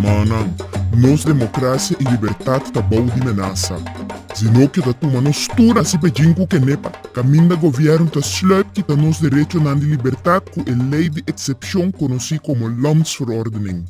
Humannan, nos democracia y libertad ta bou di menasa. Si no keda tuma nos tur hasi bejin cu kenepa, caminda gobierno ta sluip kita nos derechonan di libertad cu e ley di excepcion conoci como Landsverordening.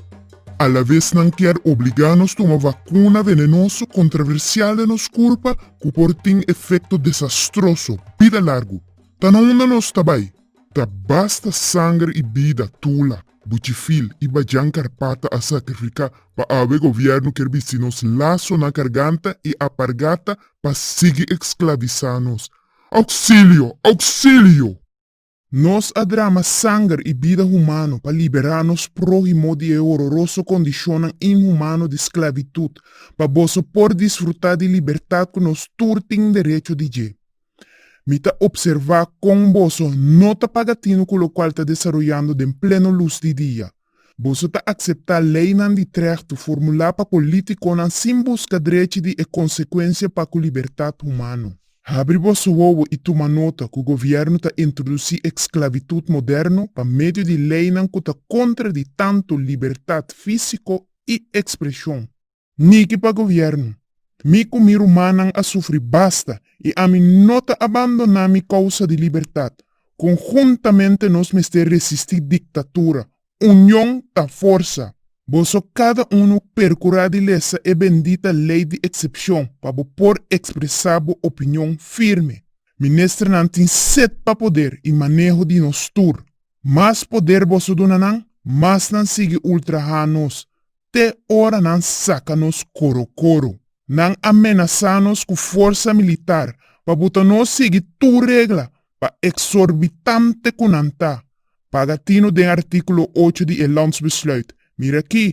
Alavez nan kier obliga nos tuma vacuna venenoso controversial den nos curpa ku por tin efekto desastroso bida largu. Ta na unda nos ta bai, ta basta sanger i bida tula, buchifil i bajan karpata a sakrifiká pa awe gobièrnu kier bisti nos laso na karganta i apargata pa sigui eksklavisá nos. Ouksilio! Ouksilio! Nos a drama sanger i bida humano pa liberá nos próhimo di e hororoso kondishonnan inhumano di sklavitut, pa boso por disfrutá di libertat ku nos tur tin derecho di dje. Mi ta opservá kon boso no ta paga tinu ku lokual ta desaroyando den pleno lus di dia. Boso ta akseptá leinan di trèhto formulá pa polítikonan sin buska drechi di e konsekuensia pa ku libertat humano. Habri boso wowo i tuma nota ku govièrnu ta introdusí eksklavitud moderno pa medio di leinan ku ta kontra di tantu libertat físiko i ekspreshon. Niki pa gobièrnu. Mi ku mi rumannan a sufri basta i ami no ta abandoná mi kousa di libertat. Konhuntamente nos mester resistí diktatura. Union ta forsa! Boso kada unu perkurá di lesa e bendita lei di eksepshon pa bo por ekspresá bo opinion firme. Ministernan tin set pa poder i maneho di nos tur. Mas poder boso duna nan, mas nan sigui ultrahá nos. te ora nan saka nos koro koro. Nan a menasá nos ku forsa militar pa bo ta no sigui tur regla pa eksorbitante ku nan ta, paga tino den artíkulo ocho di e Landsbesluit. Mira aki,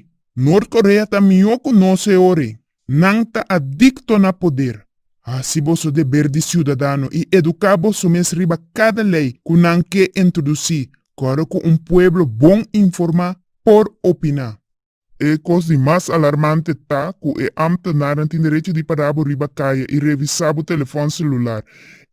Noord-Korea ta mihó ku nos e ora ei. Nan ta adicto na poder. Haci boso deber di ciudadano y educa boso mes riba cada ley cu nan ke introduci, cora cu un pueblo bon informa por opina. E cos di mas alarmante ta cu e ambtenaran tin derecho di para bo riba caye y revisa bo telefon celular,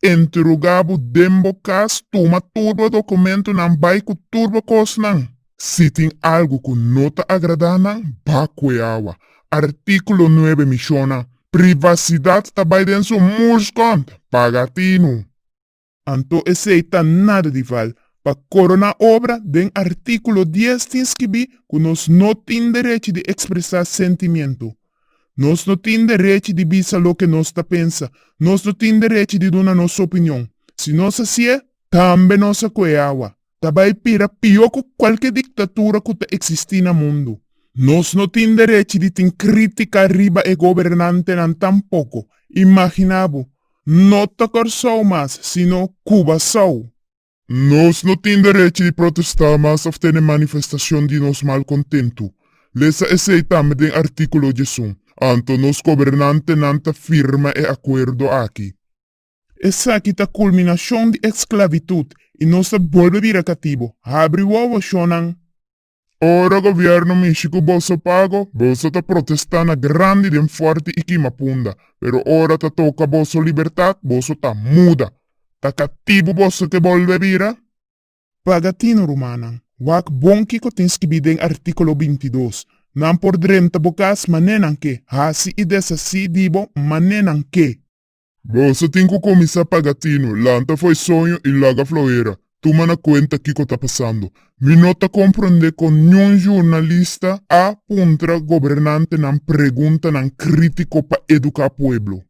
interoga bo den bo cas, tuma turba documentonan, bay cu turba cosnan. Si tin algu ku no ta agradá nan, ba ku e awa. Artíkulo nuebe menshona privasidat ta bai den su muskont pa gatinu. Anto esei ta nada di val. Pa koroná obra, den artíkulo dies tin skibí ku nos no tin derechi di ekspresá sentimientu. Nos no tin derechi di bisa loke nos ta pensa. Nos no tin derechi di duna nos opinion. Si nos hasié, tambe nos a ku e awa. ta bai bira pió ku kualke diktatura ku ta eksistí na mundu. Nos no tin derechi di tin krítika riba e gobernantenan tampoko. Imaginá bo, no ta Kòrsou mas, sino Kubasou! Nos no tin derechi di protestá mas òf tene manifestashon di nos malkontentu. Lesa esei tambe den artíkulo di esun. Anto nos gobernantenan ta firma e akuerdo aki. Esaki ta kulminashon di esklavitut i nos ta bolbe bira katibu. Habri bo wòshonnan. Ora gobièrnu mishi ku boso pago, boso ta protestá na grandi den fòrti i kima punda. Pero ora ta toka boso libertat, boso ta muda. Ta katibu boso ke bolbe bira? Paga tinu, rumannan. Wak bon kiko tin skibi den artíkulo binti i dos. Nan por drenta bo kas manenan ke, hasi i deshasí di bo manenan ke. Bo sa tin cu cuminsa paga tino, lanta fo'i soño y laga floera. Tuma na cuenta kico ta pasando. Mi no ta comprende con niun jurnalista a puntra gobernantenan preguntanan critico pa educa pueblo.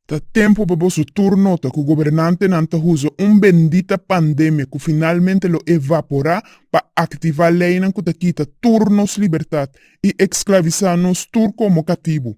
Ta tempo pa boso tur nota cu gobernantenan ta uza un bendita pandemia cu finalmente lo evapora pa activa leynan cu ta kita tur nos libertad y exclavisa nos tur como catibu.